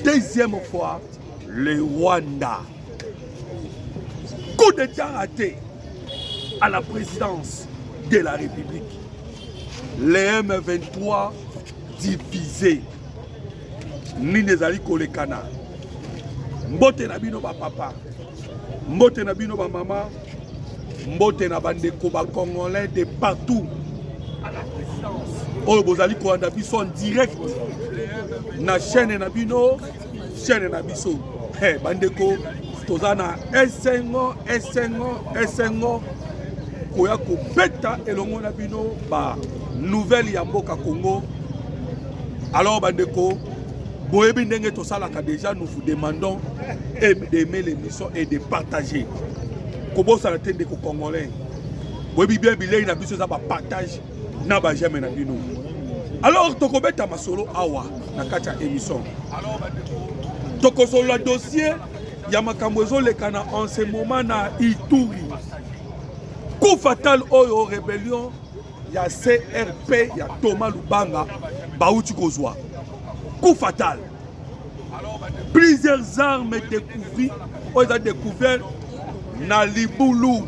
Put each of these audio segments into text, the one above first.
Deuxième fois, le Rwanda. Coup d'état raté à la présidence de la République. Les M23 divisés. Nini ezali kolekana. Mbote na bino ba papa. Mbote na bino ba mama, mbote na bandeko ba congolais de partout oyo bozali kolanda biso en direct na chaîne na bino chaîne na biso hey, bandeko toza na esengo esengo esengo koya kobeta elongo na bino ba nouvelle ya mboka congo alors bandeko boyebi ndenge tosalaka déjà nous vous demandons d'aimer l'émission et de partager kobosana te ndeko congolais boyebi bien bilei na biso eza bapartage na bajame na bino alors tokobeta masolo awa na kati ya émission tokosolola dossier ya makambo ezolekana en ce moment na ituri coup fatal oyo rebellion ya crp ya toma lubanga bauti kozwa coup fatal plusieurs armes découvri oyo eza découvert na libulu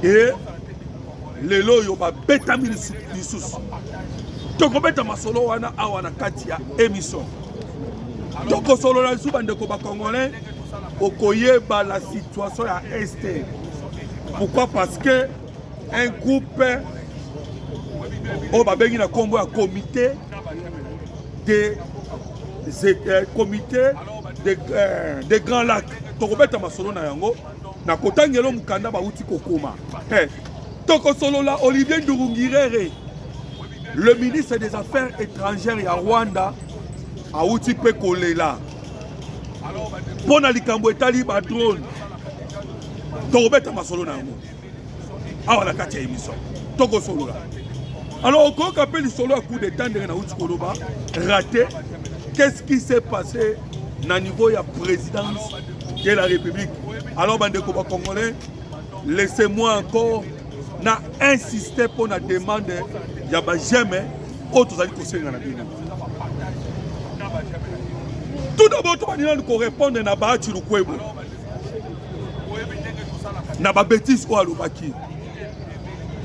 e lelo oyo babetami lisusu tokobeta masolo wana awa na kati ya émission tokosolola lisusu bandeko bacongolais okoyeba la situation ya este pourquoi parce que un groupe oyo babengi na nkombo ya comité de euh, comité de, euh, de grand lac tokobeta masolo na yango na kotangelo mokanda bauti kokoma hey, eh, tokosolola olivier ndurungirere le ministre des affaires étrangères ya rwanda auti mpe kolela mpo na likambo etali badrone tokobeta masolo na yango awa na kati ya émission tokosolola alors okoyoka mpe lisolo ya coup d'état ndenge nauti koloba raté qu'est-ce qui s'est passé na niveau ya présidence de la république alors bandeko bacongolais laissez-moi encore na insiste mpo na demande ya bajeme oyo tozali kosenga na bino tout d'abord tobandi nanu korépondre na baati lukwebo na babetise oyo alobaki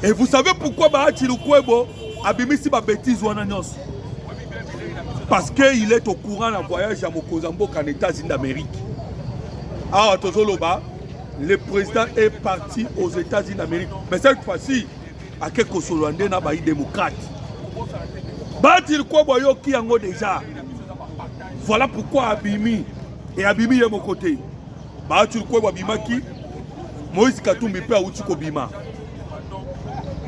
et vous savez pourquoi bahati lukwebo abimisi babetise wana nyonso parce que il est au courant na voyage ya mokonzi ya mboka na états-unis d'amérique awa tozoloba le président est parti aux états-unis d'amérique mais cette fois-ci ake kosolola nde na bayi démocrate bahati lukwebo ayoki yango déjà voilà pourquoi abimi e abimi ye moko te baati lukwebo abimaki moïse katumbi mpe awuti kobima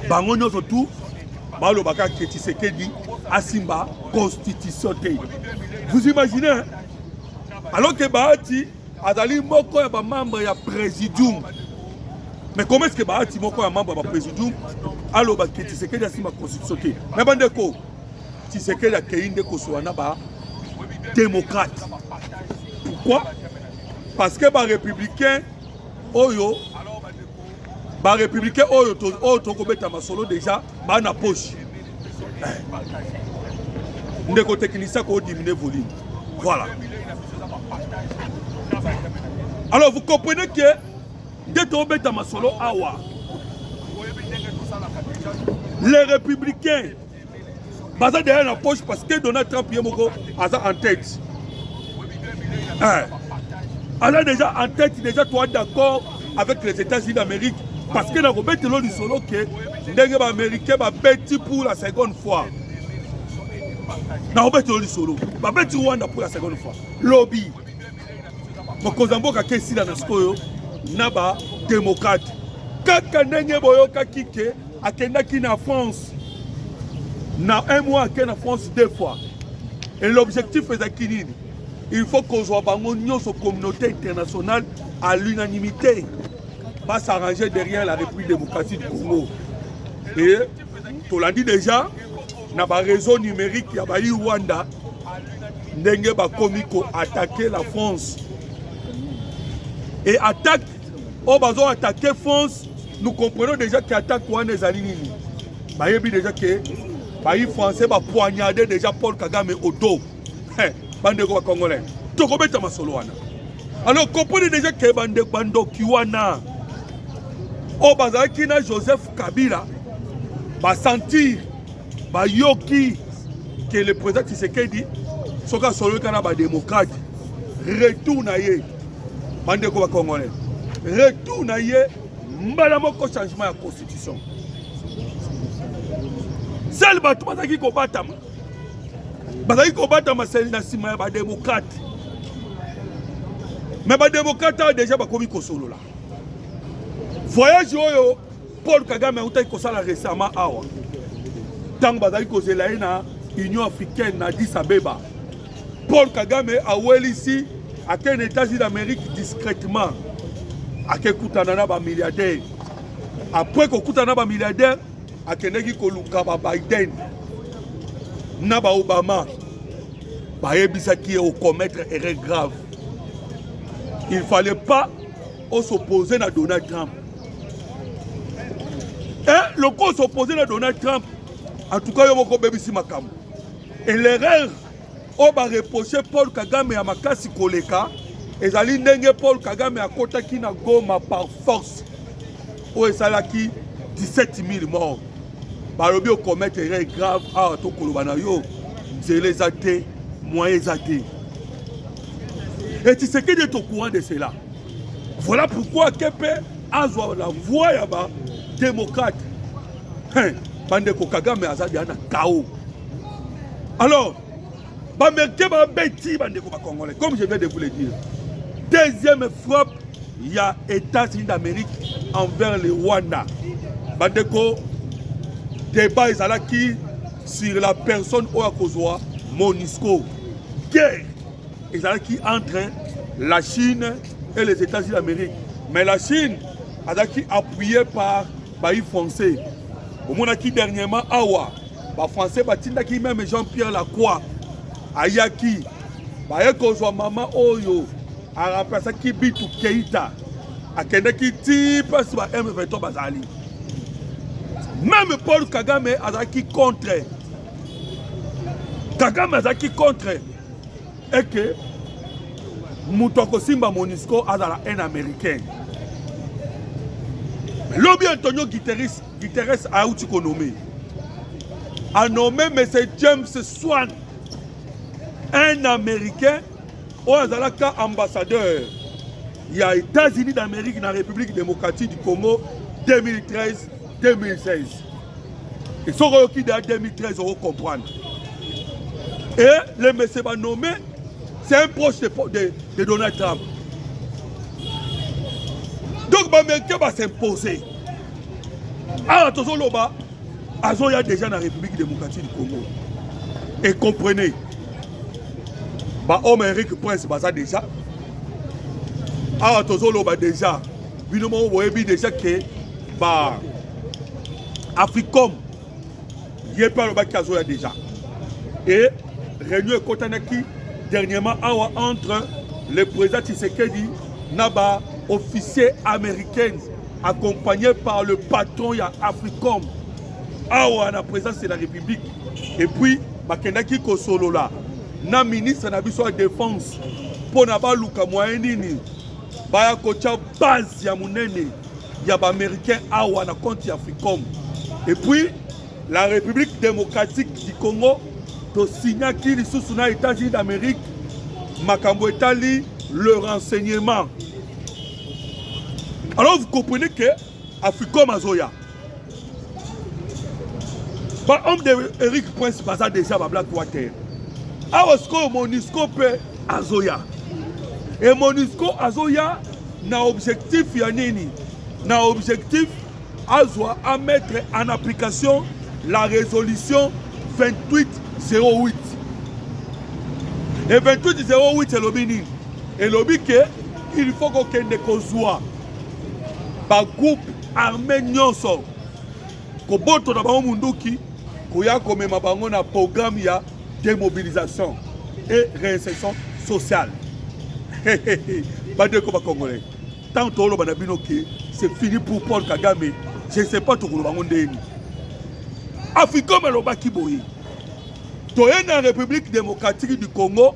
bango nyonso tu balobaka ke tshisekedi asimba constitution te vous imaginez alors ke baati azali moko ya bamembre ya présidium mais comment est ce que baati moko ya membre ya bapresidium aloba ke tshisekedi asimba constitution te me bandeko Tshisekedi akei nde kosola na ba démocrate pourquoi parce que barépublicain oyo barépublicain oyo oyo tokobeta masolo déjà baa na poche ndeko technicien koodimine volume voilà alors vous comprenez que nde tobeta masolo awa les républicains baza derrière na poche parce que donald trump ye moko aza en tête eh. aza déjà en tête déjà toi d'accord avec les états-unis d'amérique parce que nakobetelo lisolo ke ndenge baaméricain babeti pour la seconde fois nakobetelo lisolo babeti rwanda pour la seconde fois lobi mokonzi ya mboka kesila na sikoyo na bademokrate kaka ndenge boyokaki ke Akendaki na France na un mois ake na France deux fois et l'objectif ezalaki nini? Il faut kozwa bango nyonso communauté internationale à l'unanimité va s'arranger derrière la République démocratique du Congo et tolandi déjà na ba réseau numérique ya bayi Rwanda ndenge bakomi ko attaquer la France et attaque oyo oh, bazo atake france nous comprenons déjà ke atake wana ezali nini bayebi déjà ke bayi français bapoignade déjà paul kagame odo bandeko bacongolais tokobeta masolo wana alors comprenez déjà ke bandeko bandoki wana oyo oh, bazalaki na joseph kabila basentir bayoki ke le président tshisekedi soki asololika na bademokrate retour na ye bandeko bacongolais retour na ye mbala moko changement ya constitution sele bato bazalaki kobatama bazalaki kobatama seli na nsima ya bademokrate me bademokrate awa deja bakomi kosolola voyage oyo Paul Kagame autaki kosala récemment awa ntango bazali kozela ye na Union africaine na Addis Abeba. Paul Kagame awelisi ake na États-Unis d'Amérique discrètement akekutana na bamilliardaire. Après kokutana na bamilliardaire, akendeki koluka ba Biden na ba Obama bayebisaki ye okomettre erreur grave il fallait pas osopose na donald trump eh, lokola s'oppose na donald trump en tout cas yo moko obebisi makambo et l'erreur oyo bareproche paul kagame ya makasi koleka ezali ndenge paul kagame akotaki na goma par force oyo esalaki 17 000 mort balobi okomete erreur grave awa tokoloba na yo nzela eza te moyen eza te et tisekedi est au courant de cela Voilà pourquoi KP azwa la voix ya ba démocrate. Hein, bande ko Kagame aza dia na chaos. Alors, ba merite ba beti bande ko ba congolais comme je viens de vous le dire. Deuxième frappe il y a États-Unis d'Amérique envers le Rwanda. Bandeko, débat ezalaki sur la personne oyo akozwa Monisco. Guerre ezalaki entre la chine et les états-unis d'amérique mais la chine azalaki appuyé par bayi français omonaki dernièrement awa bafrançais batindaki meme jean pierre lacroix ayaki baye kozwa mama oyo aremplasaki bitu keita akendaki ti mpasi ba m23 bazali meme paul kagame azalaki contre kagame azalaki contre est que moto akosimba monisco azala un américain lobi antonio guiteres guiteres auti konome anome monsieur james swan un américain oyo azalaka ambassadeur ya états-unis d'amérique na république démocratique du congo 2013 2016 et soki oyoki da 2013 oko comprendre et le monsieur ba nommé c'est un proche de, de, de Donald Trump donc baméricain basimposer awa tozoloba azoya déjà na république démocratique du congo et comprenez bahomme eric prince baza déjà awa tozoloba déjà bino moko boyebi deja ke ba africom ye mpe alobaki azoya deja e réunion ekotanaki dernièrement awa entre le président tshisekedi na ba officier américaine accompagné par le patron ya africom awa na présence de la république et puis bakendaki kosolola na ministre na biso ya défense mpo na baluka moyen nini baya kotya base ya monene ya baaméricain awa na compte ya africom et puis la république démocratique du congo tosignaki lisusu na états-unis d'amérique makambo etali le renseignement alors vous comprenez que Africom azoya. Ba homme de Eric Prince baza déjà ba black water. Awa sikoyo Monisco pe azoya. Et Monisco azoya na objectif ya nini? Na objectif azwa à mettre en application la résolution 2808 et 2808 elobi nini elobi ke il faut kokende kozwa bagroupe arme nyonso koboto na bango munduki koya komema bango na programme ya démobilisation et réinsertion sociale bandeko bacongolais ntango toloba na bino ke c'est fini pour paul kagame je ne sais pas tokoloba yango ndeni africom alobaki boye toye na république démocratique du congo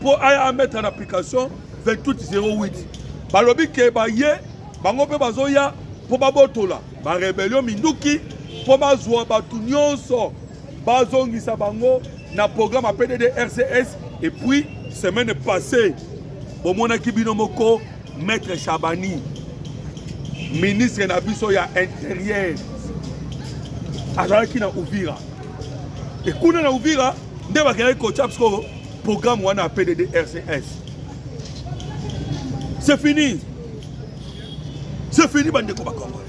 mpo aya amettre en application 2808 balobi ke baye bango mpe bazoya mpo babotola barebelio minduki mpo bazwa bato nyonso bazongisa bango na programme ya pdd rcs epuis semaine passée bomonaki bino moko maître chabani ministre na biso ya interieur azalaki na uvira ekuna na uvira nde bakendaki kotya sikoyo programme wana ya pdd rcs c'est fini c'est fini bandeko bakongole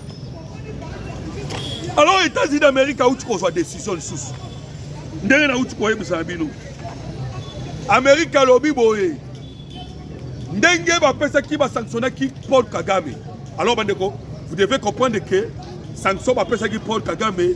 alors états-unis d'amérique auti kozwa décision lisusu ndenge nauti koyebisa na bino amerike alobi boye ndenge bapesaki basanctionnaki paul kagame alors bandeko vous devez comprendre que sanction bapesaki paul kagame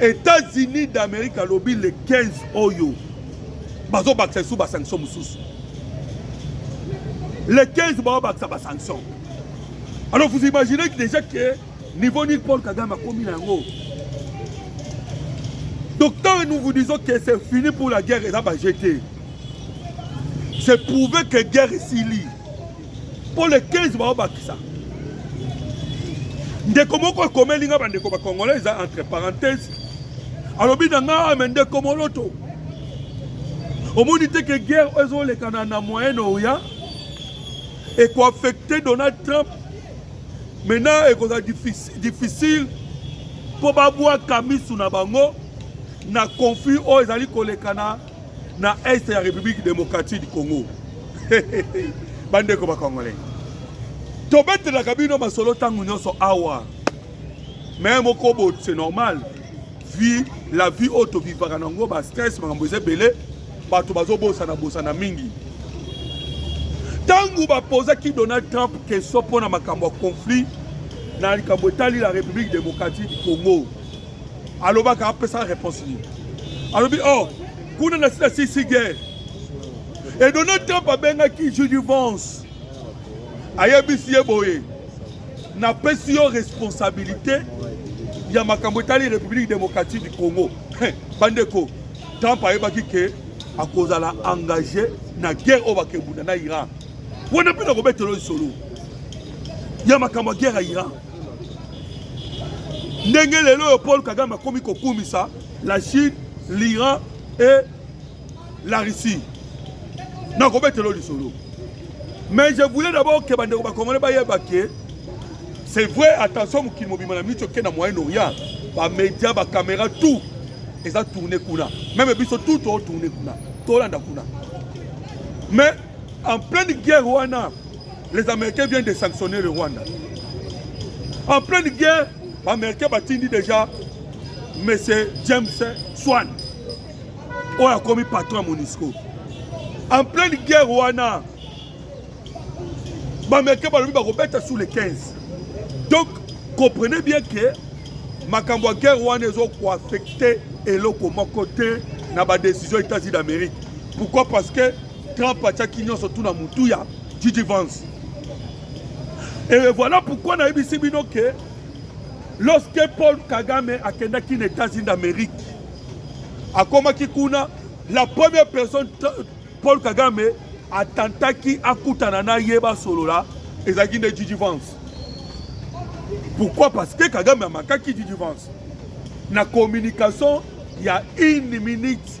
Etats-Unis d'Amerique alobi le 15 oyo bazobakisa lisusu basanction mosusu le 15 baobakisa basanction alors vous imaginez déjà que niveau nini paul kagame akomi na yango donc tant nous vous disons que c'est fini pour la guerre eza bajete c'est prouvé que guerre esili mpo le 15 baobakisa ndeko moko ekomeli nga bandeko bakongolais eza entre parenthèse alobi na nga me ndeko moloto omoni te ke guerre oyo ezolekana na moyen orient ekoaffecte donald trump maintenant ekozala difficile mpo babwaka misu na bango na conflit oyo ezali kolekana na est ya République démocratique du Congo bandeko ba congolais tobetelaka bino masolo ntango nyonso awa me moko bo c'est normal vie la vie oyo tovivaka na yango bastress makambo eza ebele bato bazobosana bosana mingi ntango bapozaki donald trump question mpo na makambo ya conflit na likambo etali la république démocratique du congo alobaka apesaka réponse nini alobi oh kuna na sila sisi guerre e donald trump abengaki judy vance ayebisi ye boye napesi yo responsabilité ya makambo etali république démocratique du congo bandeko trump ayebaki ke akozala engage na guerre oyo bakebunda na iran wana mpe nakobetelo lisolo ya makambo ya guerre ya iran ndenge lelo oyo paul kagame akomi kokumisa la chine l'iran et la russie nakobetelo lisolo mais je voulais d'abord ke bandeko bakongole bayeba ke c'est vrai attention mokili mobima na micho ke na moyen orient bamédia bacaméra tout eza tourne kuna meme biso tout totourne kuna tolanda kuna mais en pleine guerre wana Les Américains viennent de sanctionner le Rwanda. En pleine guerre, les Américains batindi déjà M. James Swan, qui a commis patron à Monisco. En pleine guerre, Rwanda, les Américains batindi sous les 15. Donc, comprenez bien que makambo ya guerre wana ezokoaffecte eloko moko te na badécision états-unis d'amérique pourquoi parce que Trump atiaki nyonso tu na mutu ya Gigi Vance. Et voilà pourquoi nayebisi bino ke lorsque Paul Kagame akendaki na États-Unis d'Amérique akomaki kuna la première personne Paul Kagame atantaki akutana na ye basolola ezalaki nde Gigi Vance. Pourquoi? Parce que Kagame amakaki Gigi Vance na communication ya une minute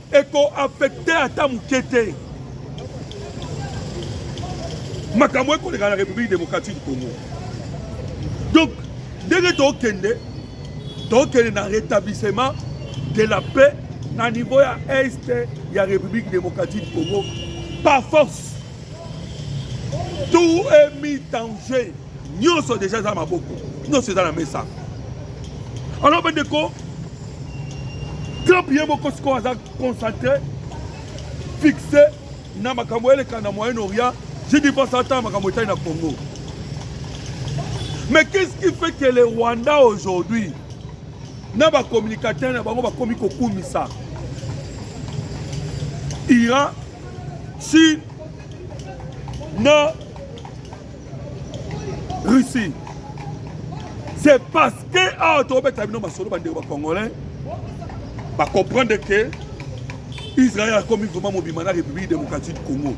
eko affecte ata moke te makambo ekoleka na république démocratique du congo donc ndenge tokende tokende na rétablissement de la paix na niveau ya est ya république démocratique du congo par force tout est mis en jeu nyonso deja eza maboko nyonso eza na mesa alors bandeko trump ye moko sikoyo aza concentré fixe na makambo eleka na moyen orient je dis pas ata makambo etali na congo mais qu'est-ce qui fait que le rwanda aujourd'hui na bacommunicateur na bango bakomi kokumisa iran Chine na Russie. C'est parce que awa tobeta bino masolo bandeko bacongolais bacomprendre que Israël akomi vraiment mobima na République démocratique du Congo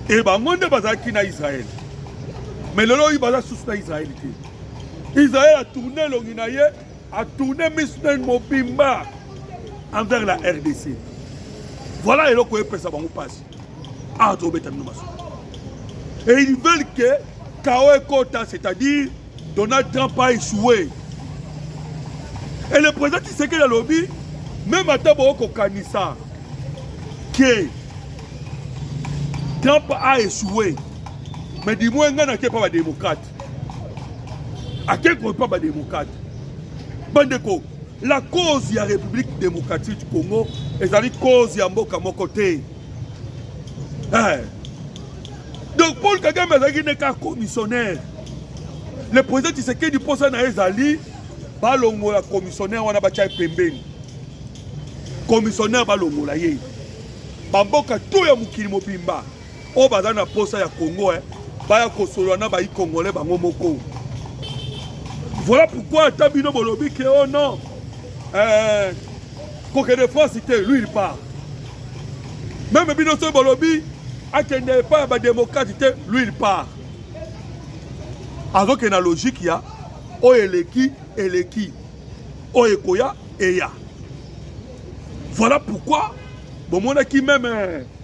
e bango nde bazalaki na Israël mais lelo oyo baza susu na Israël te Israël atourne elongi na ye A tourner miso na mobimba envers la rdc voilà eloko epesa bango mpasi awa tobeta bino maso et ils veulent que kao ekota c'est-à-dire donald trump a échoué et le président tisekeli alobi meme ata bokokanisa ke trump a échoué mais du moins ngai nake mpa badémocrate akekwe mpa bademokrate bandeko la cause ya république démocratique du congo ezali cause ya mboka moko te eh. donc paul kagame azalaki nde kaka commissionnaire le président tisekedi mposa na ye ezali balongola commissionnaire wana batya ye pembeni commissionnaire balongola ye bamboka to ya mokili mobimba oyo baza na posa ya congo eh, baya kosolola na bayi congolais bango moko voilà pourquoi ata bino bolobi ke o oh non eh, kokende france te lui il part meme bino soki bolobi akende epai ya bademokrate te lui il part azokende na logike ya oyo eleki eleki oyo ekoya eya voilà pourquoi bomonaki meme eh,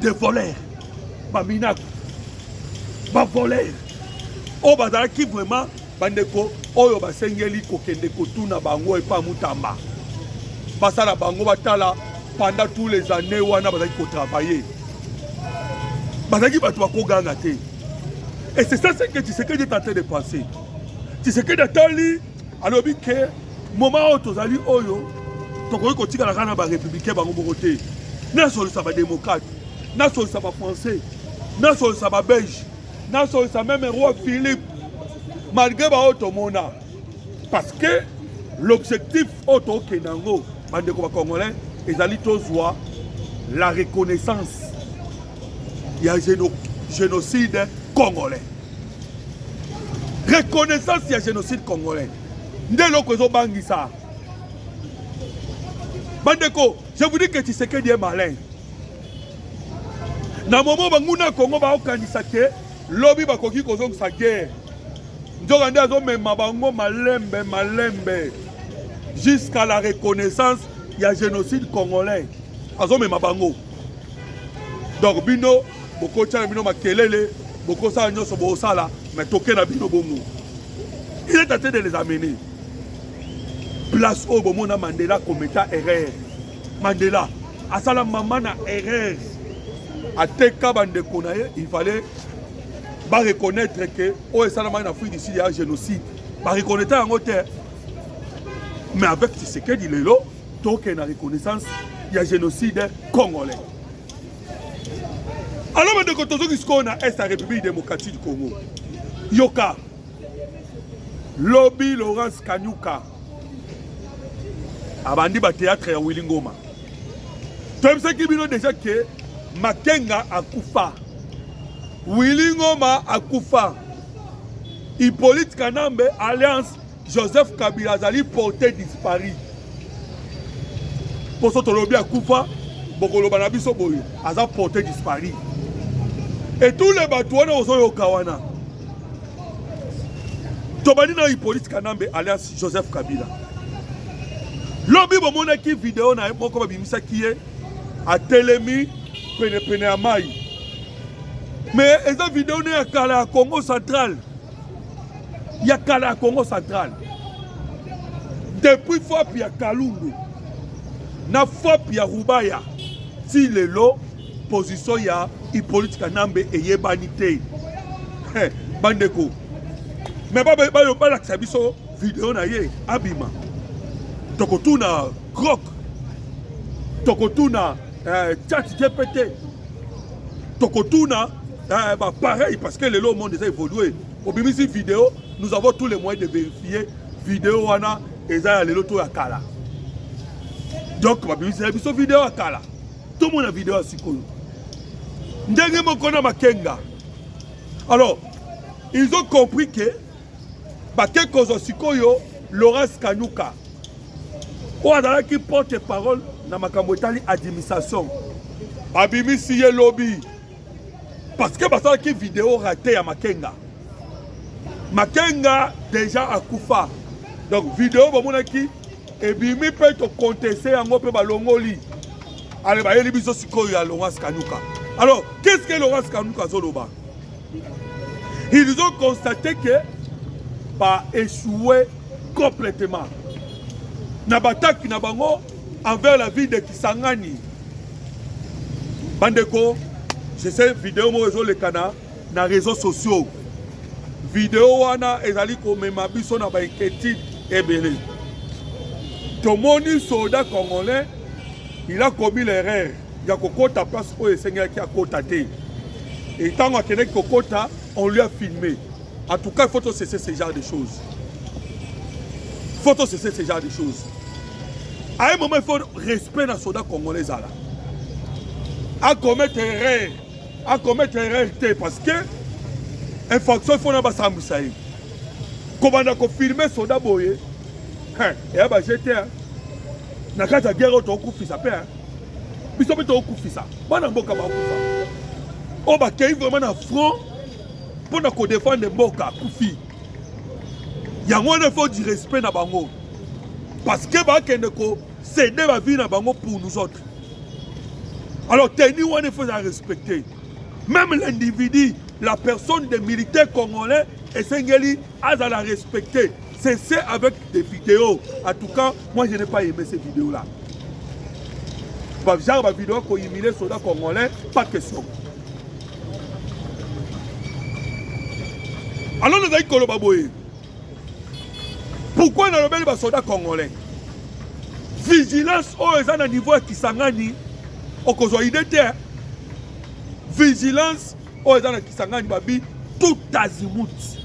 de voler baminaki bavoler oyo bazalaki vraiment bandeko oyo basengeli kokende kotuna bango epa mutamba basala bango batala pendant tous les années wana bazalaki kotravailler bazalaki bato bakoganga te et c'est ça ce que tshisekedi est en train de penser tshisekedi atali alobi ke Moment oyo tozali oyo tokoki kotikala kaka na ba républicain bango moko te. Nasolisa ba démocrate, nasolisa ba français, nasolisa ba belge, nasolisa meme roi Philippe malgré baoyo tomona parce que l'objectif oyo tokende yango bandeko bacongolais ezali tozwa la reconnaissance ya géno, génocide congolais reconnaissance ya génocide congolais nde eloko ezobangisa bandeko je vous dis que tshisekedi est malin na momo banguna ya kongo baokanisa te lobi bakoki kozongisa guerre nzoka nde azomema bango malembe malembe jusqu'à la reconnaissance ya génocide congolais azomema bango donc bino bokotyana bino makelele bokosala nyonso bosala me toke na bino bongo il est en train de les amener place oyo bomona mandela kometa erreur mandela asala mama na erreur ateka bandeko na ye il fallait bareconnaitre ke oyo esalamaki na afrique du sud ya génocide bareconnaitre yango te mais avec tisekedi lelo tokende na reconnaissance ya génocide congolais alors bandeko tozoki sikoyo na est ya république démocratique du congo yoka lobi laurence kanyuka abandi bateatre ya wili ngoma toyebisaki bino deja ke makenga akufa wili ngoma akufa hippolyte kanambe alliance Joseph Kabila azali porte dispari mposo tolobi akufa bokoloba na biso boye aza porte dispari etule bato wana ozoyoka wana tobandi na hippolyte kanambe alias joseph kabila lobi bomonaki video na ye moko babimisaki ye atelemi penepene ya mai me eza video ne ya kala ya congo centrale ya kala ya congo central depuis fop ya kalundu na fop ya rubaya ti lelo position ya hippolyte kanambe eyebani te bandeko me balakisa biso video na ye abima tokotuna grok tokotuna eh, chat gpt tokotuna eh, ba pareil parce que lelo monde eza évolué obimisi vidéo nous avons tous les moyens de vérifier vidéo wana eza ya lelo to ya kala donc babimisela biso video ya kala tomona video ya sikoyo ndenge moko na makenga alors ils ont compris que bake kozwa sikoyo laurence kanyuka oyo azalaki porte parole na makambo etali administration babimisi ye lobi parce que basalaki video rate ya makenga makenga deja akufa donc video bamonaki ebimi mpe tokonteste yango mpe balongoli ale bayeli biso sikoyo ya laurence kanyuka alors qu'est ce que laurence kanyuka azoloba Ils ont constaté que ba échoué complètement na bataki na bango envers la ville de Kisangani. Bandeko, je sais vidéo moko ezoleka na na réseaux sociaux. Vidéo wana ezali komema biso na ba inquiétude ebele. Tomoni soldat congolais, il a commis l'erreur. ya kokota place oyo esengelaki akota te et ntango akendaki kokota on lui a filmé en tout cas il faut tosese ce genre de choses il faut tosese ce genre de choses à un moment il faut respect na soda congolais ezala akometa erreur akometa erreur te parce que infraction il faut na basambwisa ye kobanda kofilme soda boye eya bajete na kati ya guerre oyo tokokufisa mpe biso mpe tokufisa bana mboka bakufa oyo bakei vraiment na front mpo na kodefendre mboka kufi yango wana faut du respect na bango parce que bakende kosede bavie na bango pour nous autres alors teni wana il faut ya respecter même l'individu la personne des militaires congolais esengeli azala respecte cesse avec des vidéos en tout cas moi je n'ai pas aimé ces vidéos là genre bavideo kohumile soda congolais pas question alors nazali koloba boye pourquoi nalobeli basoda congolais vigilance oyo eza na niveau ya kisangani okozwa ide te vigilance oyo eza na kisangani babi tout azimut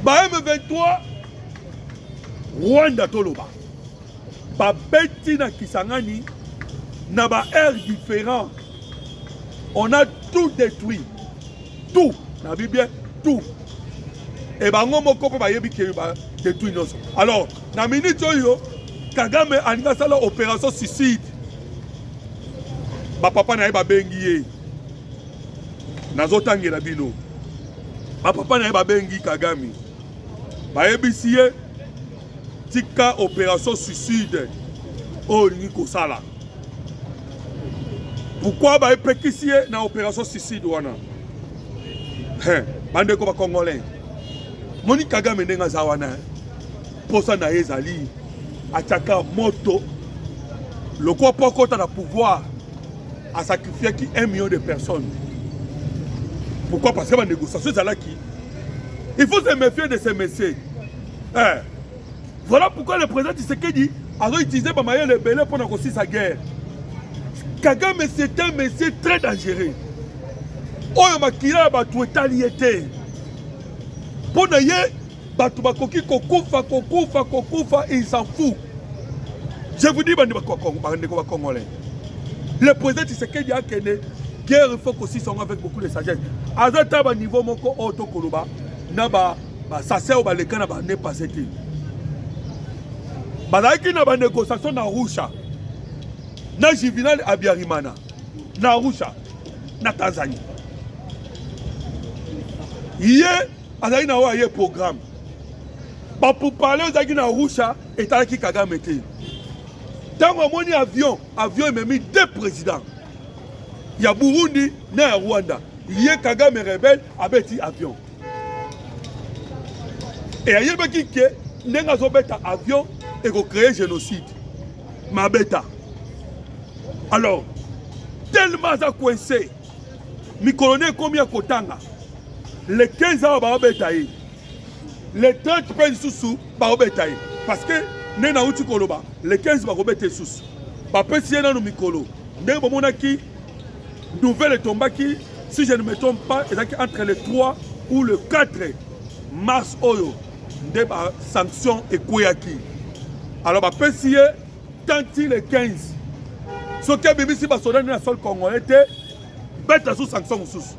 ba m23 rwanda toloba babeti na kisangani na ba aire différent on a tout détruit tout na bi bien tout e bango moko mpe bayebi ke badetruit nyonso alors na minute oyo kagame alingi asala opération suicide ba papa na ye babengi ye nazotangela bino ba papa na ye babengi kagame bayebisi ye tika opération suicide oyo olingi kosala pourkui baepekisi ye na opération suicide wana bandeko bacongolais moni kagame ndenge aza wana Posa na ye ezali atiaka moto lokola mpo akota na pouvoir asacrifiaki 1 million de personnes pourquoi parce que banégociation ezalaki il faut se méfier de ces messieurs eh. voilà pourquoi le président tisekedi azoutilize bamayele ebele mpo na kosisa guerre kagame c'est un monsieur très dangereux oyo makila ya bato etali ye te mpo na ye bato bakoki kokufa kokufa kokufa il s'en fout je vous dis bandeko bakongolais le président tshisekedi akende guerre il faut kosisa yango avec beaucoup de sagesse aza ta baniveau moko oyo tokoloba na basase oyo baleka na bane passe te bazalaki na banégociation na rusha na juvenal abiarimana na rusha na tanzanie ye azali na oyo aye programme bapupale ezalaki na rusha etalaki kagame te ntango amoni avion avion ememi deux président ya burundi na ya rwanda ye kagame rebel abeti avion e ayebaki ke ndenge azobeta avion ekocreye génocide mabeta alors tellement aza coince mikolo nde ekomi ya kotanga le 15 awa baobeta ye le 30 mpe lisusu baobeta ye parce que nde nauti koloba le 15 bakobeta lisusu bapesi ye nano mikolo ndenge bomonaki nouvelle etombaki si je ne me trompe pas ezalaki entre le 3 ou le 4 mars oyo nde basanction ekweyaki alors bapesi ye Tanti le 15 soki abimisi basoda nde na sol congolais te beta sous sanction mosusu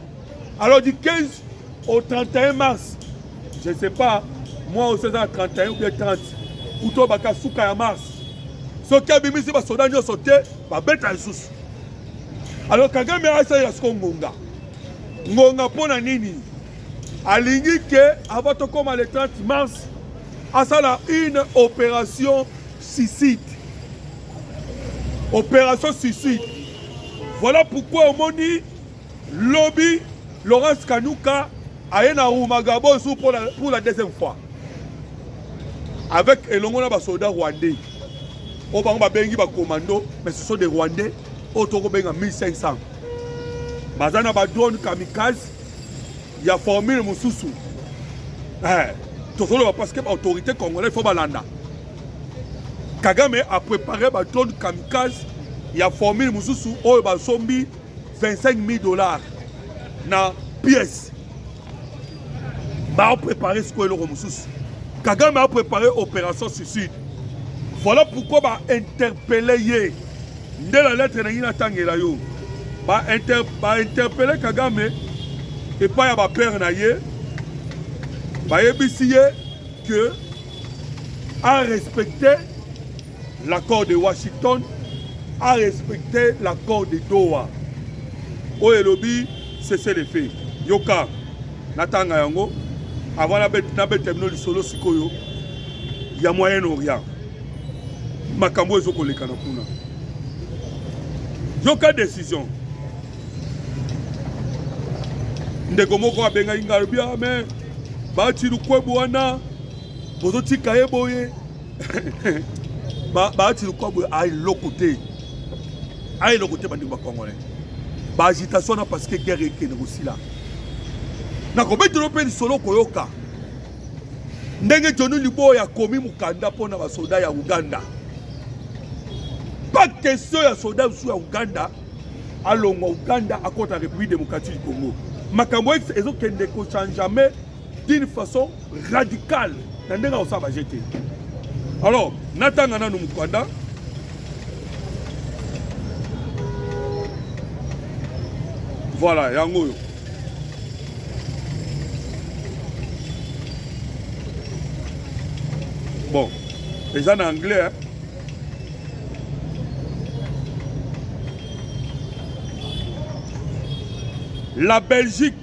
alors du 15 au 31 mars je ne sais pas moi aussi eza na 31 ou bien 30 uto baka suka ya mars soki abimisi basoda nyonso te babeta lisusu alors kagame asalela siko ngonga ngonga mpo na nini alingi ke avant tokóma le 30 mars asala une opération Suicide. Opération suicide. Voilà pourquoi omoni lobi Laurence Kanuka aye na Rumagabo sous pour la, pour la deuxième fois. Avec elongo na basoda rwandais. Oyo bango babengi ba commando mais ce sont des rwandais oyo tokobenga 1500. Baza na ba drone kamikaze ya formule mosusu. Eh, tozoloba parce que ba autorité congolais faut balanda. Kagame a prepare ba drone kamikaze ya formule mosusu oyo basombi 25 000 dollars na pièce baoprepare sikoyo eloko mosusu kagame aoprepare opération suicide voilà pourquoi bainterpele ye nde na lettre na ngai natangela yo bainterpele kagame epai ya bapere na ye bayebisi ye que a respecté l'accord de Washington, a respecté l'accord de Doha. Oyo elobi cessez le feu. Yoka natanga yango avant nabeta bino lisolo sikoyo ya Moyen Orient, makambo ezokoleka na kuna. Yoka décision ndeko moko abengaki ngai alobi ame ah, bati lukwebo wana Bozo tika ye boye. Ba ba ti lokwa boye a eloko te. A eloko te bandeko ba congolais. Ba agitation na parce que guerre ekende kosila. Na kobetelo mpe lisolo koyoka ndenge Johnny Liboya akomi mokanda mpo na basoda ya Uganda. Pas question ya soda mosusu ya Uganda alongwa Uganda akota République démocratique du Congo. Makambo ezokende kochangeame d'une façon radical na ndenge akosala baje te alors natanga nanu mokanda voilà yango oyo bon eza na anglais hein? la belgique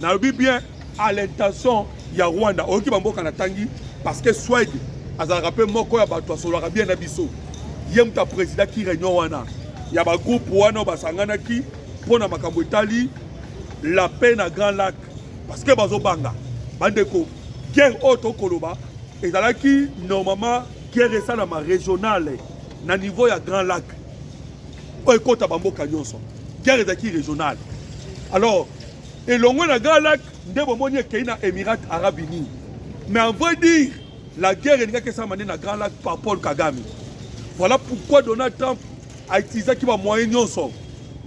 nalobi bien à l'intention ya rwanda oyoki bamboka natangi parce que swede azalaka mpe moko ya bato asololaka bien na biso ye moto aprésidaki réunion wana ya bagroupe wana basanganaki mpo na makambo etali la paix na grand lac parce que bazobanga bandeko guerre oyo tokoloba ezalaki normalement guerre esalama régionale na niveau ya grand lac oyo ekota bamboka nyonso guerre ezalaki régionale alors elongo na grand lac nde bomoni ekei na émirat arabe unis mais en vrai dire la guerre elingaki esalama nde na grand lac par paul kagame voilà pourquoi donald trump autilisaki bamoyen nyonso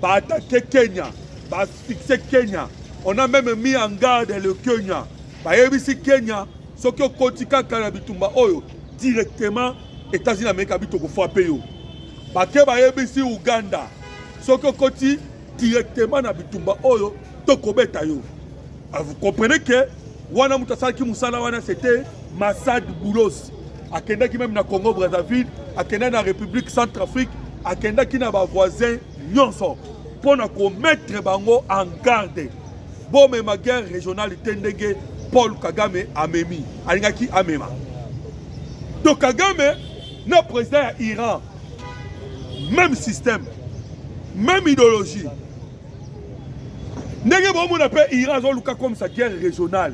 baattake kenya baasphyxe kenya on a même mis en garde le kenya bayebisi kenya soki okoti kaka na bitumba oyo directement états-unis amerika bitokofrape yo bake bayebisi uganda soki okoti directement na bitumba oyo tokobeta yo ah, vous comprenez que wana moto asalaki mosala wana c'était Massad Boulos akendaki meme na Congo Brazzaville akendaki na République Centrafrique akendaki na ba voisins nyonso mpo na komettre bango en garde bomema guerre régionale te ndenge Paul Kagame amemi alingaki amema to Kagame na président ya Iran meme système meme idéologie ndenge bomona mpe iran azoluka comme sa guerre régionale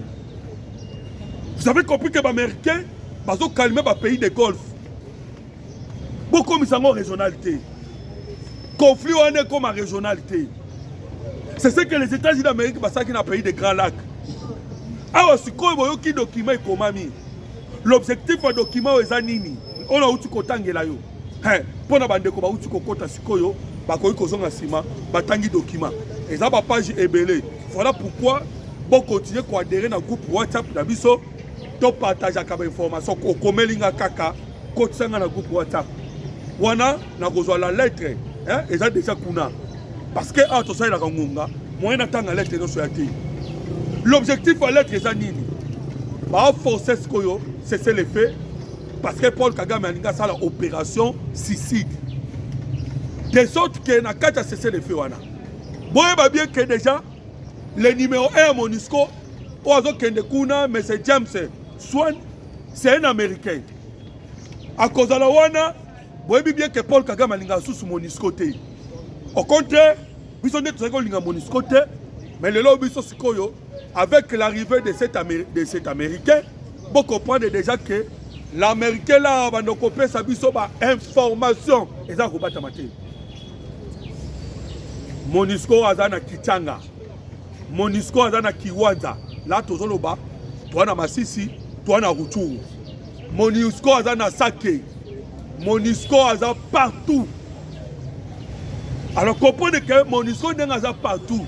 vous avez compris que baaméricain bazokalme bapays de golfe bokomisa yango régional te conflit wana ekoma régional te c'est ce que les états-unis d'amérique basalaki na pays de grand lac awa sikoyo boyoki document ekomami l'objectif ya document oyo eza nini oyo auti kotangela yo hey, mpo na bandeko bauti kokota sikoyo bakoki kozonga nsima batangi dokima eza bapage ebele voilà pourquoi bokontinue koadere na groupe whatsapp na biso topartageaka bainformation okomeli nga kaka kotisa nga na groupe whatsapp wana nakozwa la lettre eh, eza deja kuna parce que awa tosalelaka ngonga moyen natanga lettre nyonso ya te l'objectif ya lettre eza nini baforce sikoyo cese le fait parce que paul kagame alingi asala opération siside de sorte que na kati ya sese de feu wana boyeba bien que déjà le numéro 1 ya monusco oyo azokende kuna monsieur james swan c'est un américain akozala wana boyebi bien que paul kagame alingaka susu monusco te au contraire biso nde tozali kolinga monisco te mais lelo biso sikoyo avec l'arrivée de cet, Amé de cet américain bocomprendre déjà que l'américain la banda kopesa biso bainformation eza kobatama te monisco aza na kichanga monisco aza na kiwanza la tozoloba toa na masisi toa na ruchuru Monusco aza na sake. Monusco aza partout. Alors comprenez que Monusco ndenge aza partout.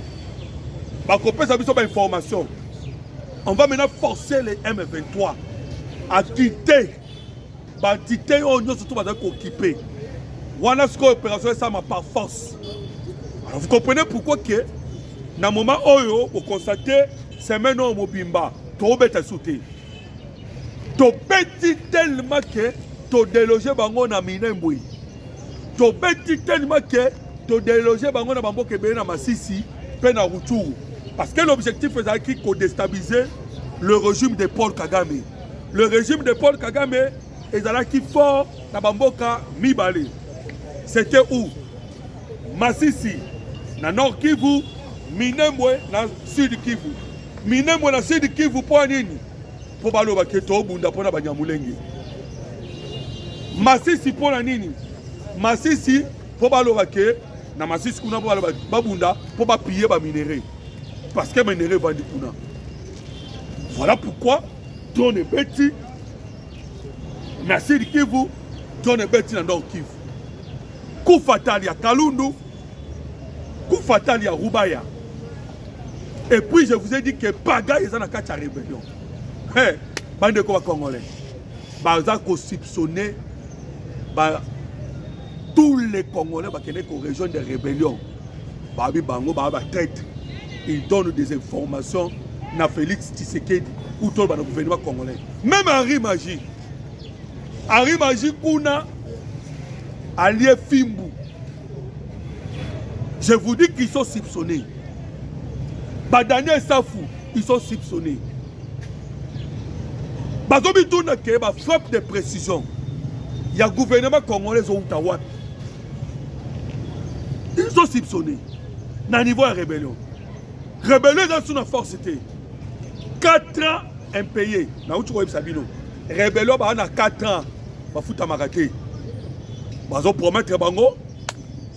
Bakopesa biso ba information. On va maintenant forcer les M23 à quitter bantite oyo oh, nyonso to bazali kokipe wana sikoyo opération esalama par force alors vous comprenez pourquoi que na moment oyo bokonstate semaine oyo mobimba tokobeta su te tobeti telema ke todeloge bango na minembwe tobeti telema ke todeloge bango na bamboka ebele na masisi mpe na rutshuru parce que l'objectif ezalaki kodestabilise le régime de paul kagame le régime de paul kagame ezalaki fort na bamboka mibale c'était où masisi na nord kivu minembwe na sud kivu minembwe na sud kivu mpo nini mpo balobaki ete obunda mpo na banyamulenge masisi mpo na nini masisi mpo balobaki na masisi kuna mpo babunda mpo bapiye baminerai parce que minerai evandi kuna voilà pourquoi drone ebeti na sidi kivu john ebeti na nord kivu kufatali ya kalundu kufatali ya rubaya et puis je vous ai dit que paga eza na kati ya rébellion hey, bandeko bacongolais baza kosipsonne ba, tous les congolais bakende korejoindre rébellion babi bango baa ba traite il donne des informations na félix tshisekedi utoloba na gouvernement congolais même henri magie henri magie kuna alie fimbu je vous dis qu'ils sont soupçonnés badaniel safu ils sont soupçonnés bazobituna ke bafrappe de précision ya gouvernement congolais owuta wapi ils ont soupçonné na niveau ya rébellion rébellion eza lisusu na force te 4 ans impayé nauti koyebisa bino rébellion baa na 4 ans bafutamaka te bazopromettre bango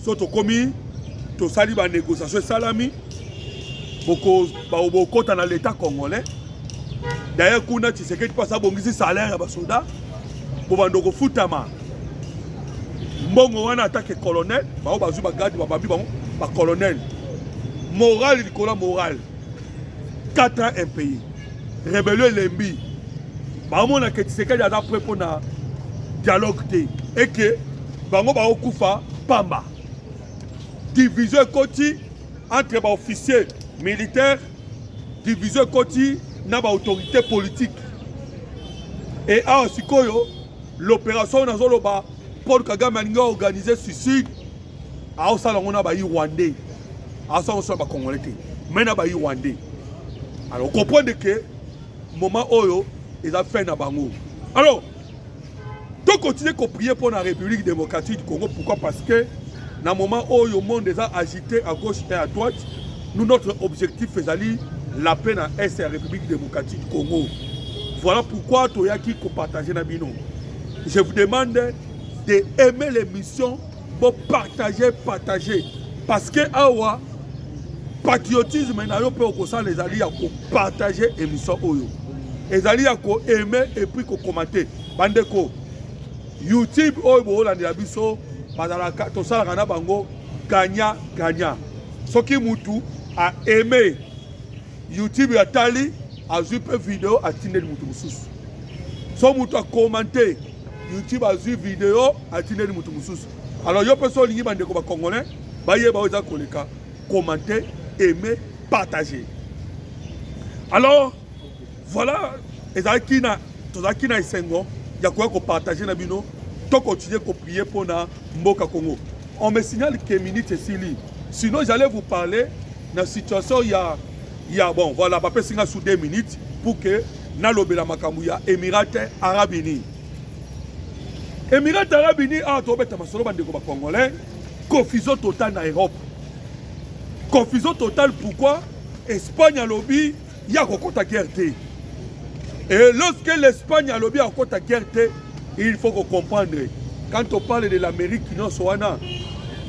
so tokomi tosali banégociation esalami bokota na leta congolais daye kuna tshisekedi mpo aza bongisi salaire ya basoda bobanda kofutama mbongo wana atake colonel bango bazwi bagadi babambi bango bacolonel morale likolo ya morale 4 ans impayé rebelio elembi bamonaka tshisekedi aza pre mpo na dialogue te eke bango bakokufa pamba division ekoti entre baofficier militaire division ekoti na baautorité politique e awa sikoyo l'opération oyo nazoloba paul kagame alingi aorganize suicide aosala yango na bayi rwandais aosala yango so na bacongolais te mai na bayi rwandais alors okomprendre ke moment oyo eza fin na bango alors tokontinue koprie mpo na république démocratique du congo pourquoi parce que na moment oyo monde eza agité à gauche et à droite nous notre objectif ezali la paix na est ya république démocratique du congo voilà pourquoi toyaki kopartage na bino je vous demande de aimer l'émission bo partager partager parce que awa patriotisme na yo mpe okosala ezali ya kopartage émission oyo ezali ya koaime epuis kokomante bandeko YouTube oyo bolandela biso bazalaka tosalaka na bango ganya ganya soki mutu a aime youtube atali azwi mpe video atindeli mutu mosusu so mutu akomante youtube azwi video atindeli mutu mosusu alors yo mpe so olingi bandeko bacongolais bayeba oyo eza koleka komante aime partage alors Voilà, ezalaki na tozalaki na esengo ya koya kopartage na bino to continuer koprie mpo na mboka Congo. On me signale que minute esili, sinon j'allais vous parler na situation ya ya bon voilà bapesi nga sous deux minutes pour que nalobela makambo ya Emirate Arabe Unis. Emirate Arabe Unis awa tobeta masolo bandeko ba Congolais, confusion totale na Europe, confusion totale pourquoi Espagne alobi ya kokota guerre te et lorsque l'espagne alobi akokota guerre te il faut ko comprendre quand on parle de l'amérique nyonso wana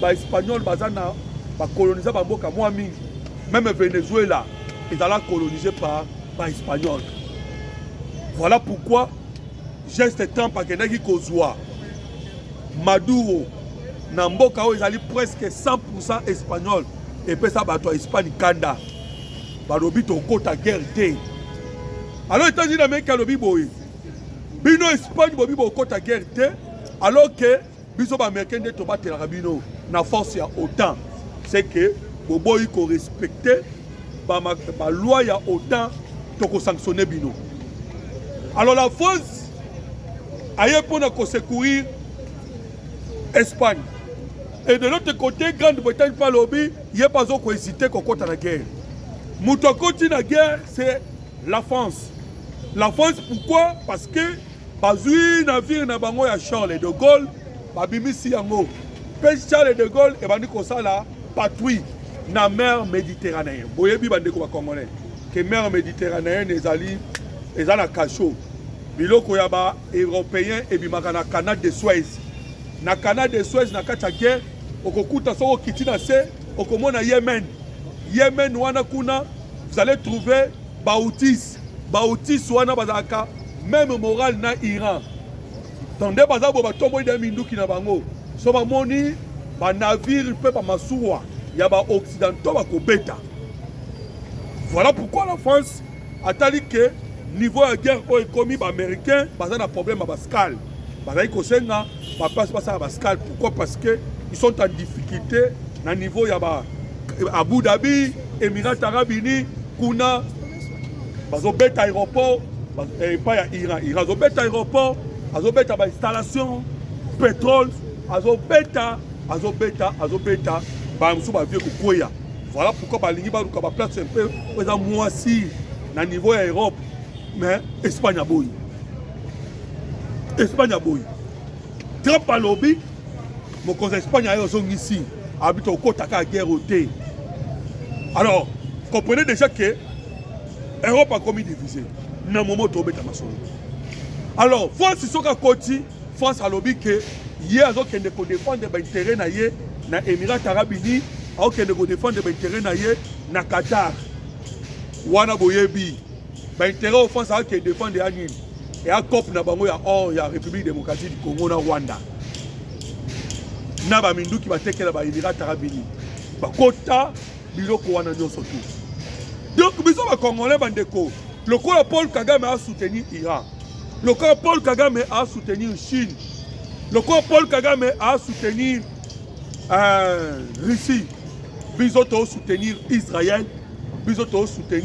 baespagnol baza na bakolonisa bamboka mwa mingi meme venezuela ezala colonise par baespagnol voilà pourquoi geste trump akendaki kozwa maduro na mboka oyo ezali presque 100 espagnol epesa bato ya espagne kanda balobi tokota guerre te alors états-unis d'amérique alobi boye bino espagne bobi bokota guerre te alors que biso baaméricain nde tobatelaka bino na force ya otan c'est que boboyi korespecte baloi ya otan tokosanctionne bino alors la france aye mpo na kosecourir espagne et de l'autre côté grande bretagne mpe alobi Ye pe azo ko hesiter kokota na guerre. Moto akoti na guerre c'est la France. La France pourquoi? Parce que bazwi navire na bango ya Charles de Gaulle babimisi yango mpe Charles de Gaulle ebandi kosala patrouille na mer méditerranéenne boyebi bandeko bacongolais ke mer méditerranéenne ezali eza na cachot biloko ya baeuropéen ebimaka na canal de suez na canal de suez na kati ya guerre okokuta soki okiti na se okomona yemen yemen wana kuna vous allez trouver bautis bautis wana bazalaka meme morale na iran donc nde baza boye batomboli nde minduki na bango so bamoni banavire mpe bamasuwa ya baoccidentaux bakobeta voilà pourquoi la france atali ke niveau ya guerre oyo ekomi baaméricain baza na problème ya bascale bazali kosenga bapasi basala bascale pourquoi parce que ils sont en difficulté na niveau ya ba abu dhabi émirat arabe unis kuna bazobeta aéroport eh, epai ya iran iran azobeta aéroport azobeta bainstallation pétrole azobeta azobeta azobeta baya mosusu bavie kokweya voilà pourquoi balingi baluka baplace mpe oyo eza mwasi na niveau ya europe mais espagne aboyi Espagne aboyi. Trump alobi mokonzi ya Espagne aye ozongisi abi tokotaka guerre te. Alors, comprenez déjà que Europe akomi divise na momo tobeta masolo. Alors, France soki akoti, France alobi ke ye azokende kodefendre baintere na ye na Emirate Arabe Unis, akokende kodefendre baintere na ye na Qatar. Wana boyebi ba intérêt offense a ke défendre ya nini ya cop na bango ya or ya République démocratique du Congo na Rwanda na ba minduki batekela ba Emirats Arabes Unis bakota biloko wana nyonso tu donc biso ba congolais bandeko lokola Paul Kagame a soutenir Iran lokola Paul Kagame a soutenir Chine lokola Paul Kagame a soutenir euh, Russie biso to soutenir Israël biso to soutenir